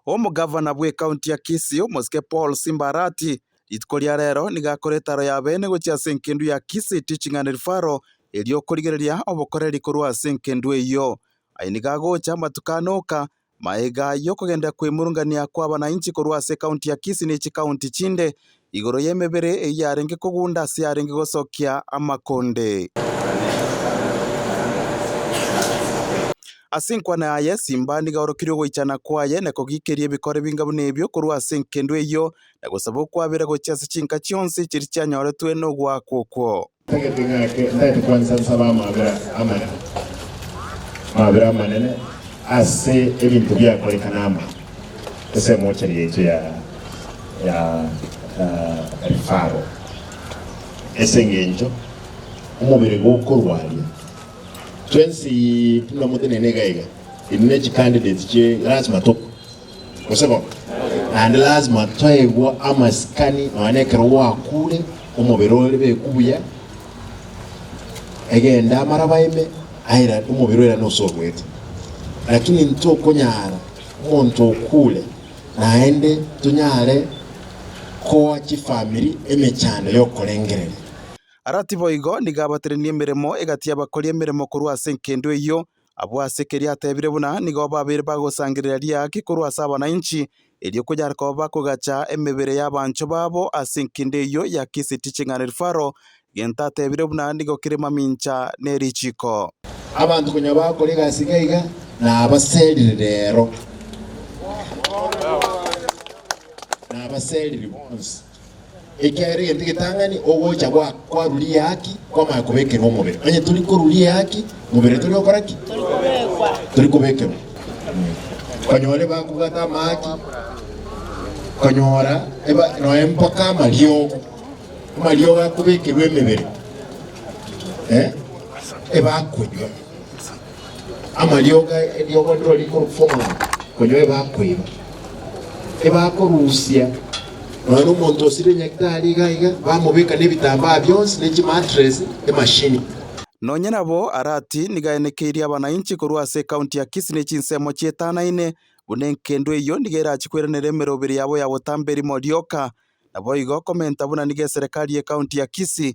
Omogavana bw'ekaunti ya Kisii, omosike Paul Simba Arati, rituko ria rero nigo akore etaro ya beene gochia ase engendu ya Kisii Teaching and Referral eria okorigereria obokoreri korwa ase engendu eyio. Aye nigo agocha amatuko ane oka, magega ayio okogenda kwemurungania kw'abanainchi korwa ase ekaunti ya Kisii ne chikaunti chinde igoro y'emebere eyio yarenge kogunda ase yarenge gosokia amakonde. Ase enkwana yaye Simbandi gaorokirie ogoichana kwaye na kogikeria ebikore binga buna ebio korwa ase enkendwa eyio, na gosaba okwabera gochia ase chinka chionsi chiria chianyoretwe nogoakwa okwo. Tagete ng'ake, ntagete kwansa nsabe amabera amaya, amabera amanene, ase ebinto biakoreka nama, ase emochari yaito ya ya refaro, ase engencho omobere gokorwaria twensi buna motenene iga iga, inwe ne chicandidates chie lazima to. Gose bono? Naende lasima toegwa amasikani nonya nekero gwakuure, omobere ore beku buya, egende amaraba ime, aira omobere oira nosobuete. Lakini ntokonyara omonto okuure naende tonyare koa chifamiri emechando y'okorengereria. Ara tiboigo, nigo abaterenie emeremo egati y'abakori emeremo korwa ase enkendo eyio, Abwo ase keria atebire buna nigo babeire bagosangereria riaake korwa ase abanainchi, erio konyare koba bakogacha emebere y'abanchwa babo ase enkinde eyio ya Kisi Teaching and Referral, gento atebire buna nigo kere mamincha ne richiiko. Abanto konya bakora egasi iga iga nabaserire rero, nabaserire bonsi. Ekiagera egento egetang'ani ogocha gwa kwa ruria haki kwamanya kobekerwa omobere. Onye tori koruria haki mobere tori gokora ki? Tori kobekerwa. Konyora ebakogata amahaki, konyora eba noe mpaka amariogo. Amariogo akobekerwa emebere. Eh? Ebakonywa. Amariogo eriogo niro rikorufong'ora konya ebakoiba, ebakorusia nonya nomonto osire enyagitari iga iga, bamobeka nebitambaa bionsi ne chimatress, emashini. Nonya nabo Arati nigo aenekeirie abanainchi korwa ase ekaunti ya Kisii ne chinsemo chietanaine, buna enkendo eyio nigo erachie koiranera emeroberi yabo ya botamberi morioka. Naboigo komenta buna nigo eserekari y'ekaunti ya Kisii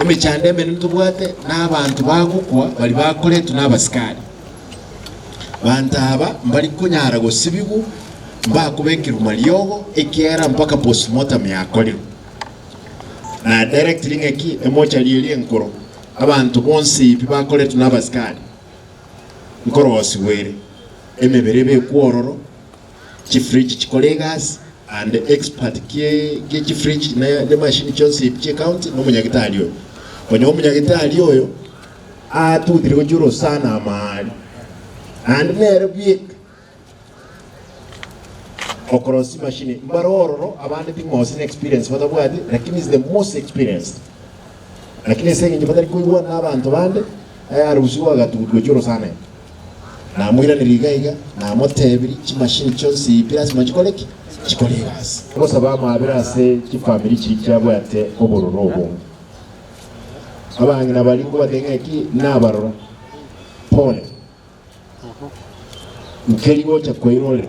Emechando emenene tobwate n'abanto bagokwa baria bakoretwe n'abasikari. Banto aba mbari konyara gosibigwa mbakobekerwa mariogo ekiagera mpaka postmortem yakorerwa. Na direct ring'aki emochari eria enkoro abanto bonsi pi bakoretwe n'abasikari nkorosigwa ere, emebere ebekwe ororo, chifridge chikore egasi and expert gie chifridge ne machine chionsi ebi chie county na omonyagitari oyo. Konya omonyagitari oyo atutire gochia orosana amaali and nere bweka okorosia machine mbare ororo abande ting'osi na experience batabwati lakini is the most experienced. Lakini ase eng'encho batari koigwana na abanto bande, aye arusiwe agatutu gochia orosana ime. Namoiranerie iga iga, namotebirie, chimashini chionsi ibire ase moyo chikore ki? Chikore egasi. Ogosaba amabera ase chifamiri chiria chiabwate obororo obonge. Abang'ina baria nkobate ng'aki nabarora. Pole. Nkeri gocha koirorera.